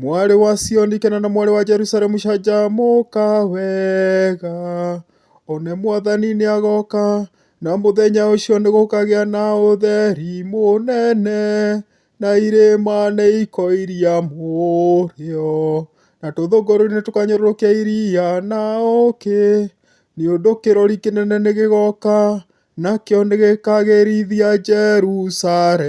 Mwarĩ wa Sioni kena na mwarĩ wa Jerusalemu canjamũka wega, one mwathani nĩ agoka, na mũthenya ũcio nĩ gũkagĩa na ũtheri mũnene, na irĩma nĩ ikoiria mũrĩo, na tũthũngũri nĩ tũkanyũrũrũkia iria na ũkĩ, nĩ ũndũ kĩrori kĩnene nĩ gĩgoka, nakĩo nĩ gĩkagĩrithia Jerusalemu.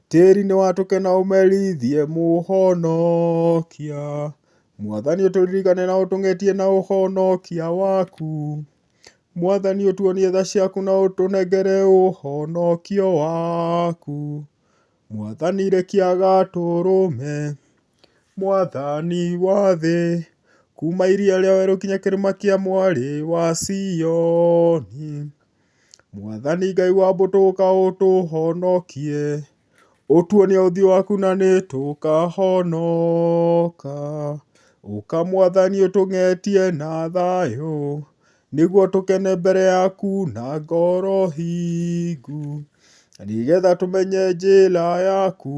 Tĩri nĩ watũke na ũmerithie Mũhonokia, Mwathani ũtũririkane na ũtũng'etie na ũhonokia waku. Mwathani ũtuonie tha ciaku na ũtũnengere ũhonokio waku. Mwathani rekia gatũrũme, Mwathani wa thĩ, kuma iria rĩa werũ nginya kĩrĩma kĩa mwarĩ wa Sioni. Mwathani Ngai wa mbũtũ ũka ũtũhonokie, ũtuonie ũthiũ waku na nĩ tũkahonoka. Ũka Mwathani ũtũng'etie na thayũ, nĩguo tũkene mbere yaku na ngoro hingu, nĩgetha tũmenye njĩra yaku.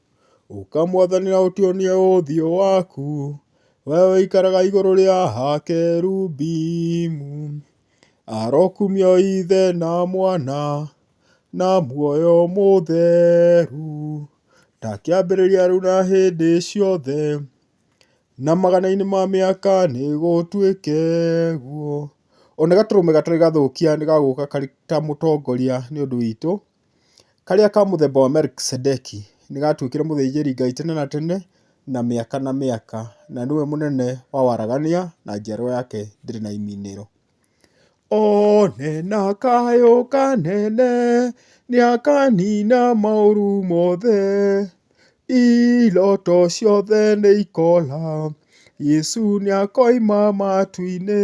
Ũka mwathani na ũtuonie ũthiũ waku, we ũikaraga igũrũ rĩa hakerubimu. Arokumio ithe na mwana na muoyo mũtheru, ta kĩambĩrĩria rĩu na hĩndĩ ciothe, na magana-inĩ ma mĩaka nĩgũtuĩke guo. Ona gatũrũme gatarĩ gathũkia nĩgagũka karĩ ta mũtongoria nĩ ũndũ witũ. Karĩa ka mũthemba wa Melikisedeki nĩ gatuĩkire mũthĩnjĩri Ngai tene na tene na mĩaka na mĩaka, na nĩwe mũnene wa waragania na njiarwa yake ndĩrĩ na imĩnĩro. One na kayũ kanene nĩ akanina maũru mothe, iroto ciothe nĩ ikoora, Yesu nĩ akoima matu-inĩ.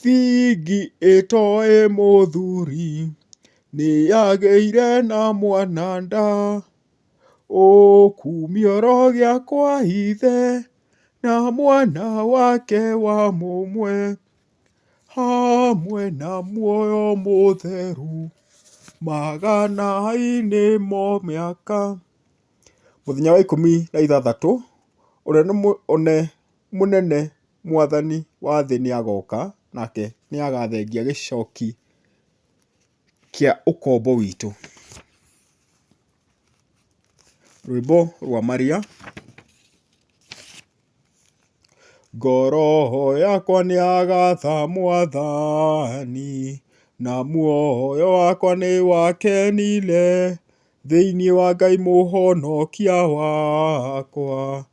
Fingi ĩtoĩ mũthuri, nĩ yagĩire na mwana nda, Ũkumio rũgĩa kwa ithe, na mwana wake wa mũmwe, Hamwe na muoyo mũtheru, magana-inĩ ma mĩaka. Mũthenya wa ikũmi na ithathatũ, ũrĩa nĩ one. mũnene mwathani wa thĩ nĩ agoka, nake nĩ agathengia gĩcoki kĩa ũkombo witũ. Rwĩmbo rwa maria. Ngoro yakwa nĩ yagatha mwathani, na muoyo wakwa nĩ wakenire. Thĩinĩ wa Ngai Mũhonokia wakwa,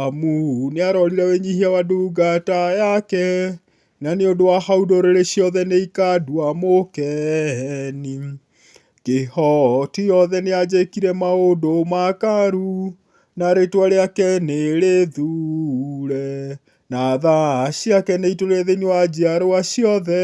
amu nĩ arorire wĩnyihia wa ndungata yake, na nĩ ũndũ wa hau ndũrĩrĩ ciothe nĩ ikandua mũkeni. Kĩhoti yothe nĩ anjĩkire maũndũ makaru, na rĩtwa rĩake nĩ rĩthure, na tha ciake nĩ itũire thĩinĩ wa njiarwa ciothe.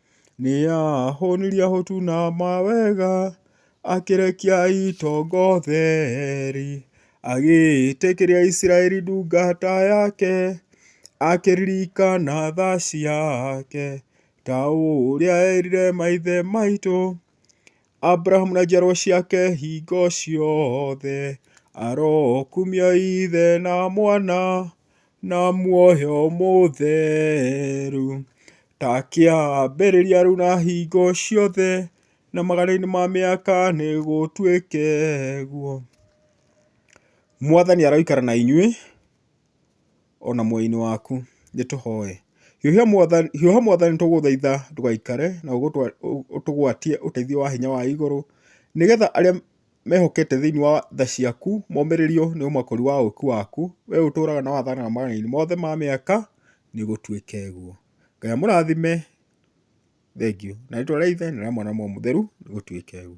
Nĩahũnirie ahũtu na mawega, akĩrekia itonga ũtheri. Agĩĩtĩkĩria Isiraeli ndungata yake, akĩririkana tha ciake, ta ũrĩa eerire maithe maitũ. Abrahamu na njiarwa ciake hingo ciothe, arokumia Ithe na Mwana na muoyo mũtheru, ta kĩambĩrĩria rĩu na hingo ciothe, na magana-inĩ ma mĩaka nĩgũtuĩke ũguo. Mwathani aroikara na inyuĩ. o na muoyo-inĩ waku. Nĩ tũhoe. Hiũha Mwathani tũgũthaitha ndũgaikare na ũtũgwatie ũteithio wa hinya wa igũrũ, nĩ getha arĩa mehokete thĩinĩ wa tha ciaku momĩrĩrio nĩ ũmakũri wa ũũki waku, we ũtũũraga na wathanaga mawatho-inĩ mothe ma mĩaka, nĩ gũtuĩke ũguo. Ngai amũrathime. Thengiũ. Na rĩĩtwa rĩa Ithe na rĩa Mwana na Roho Mũtheru, nĩ gũtuĩke ũguo.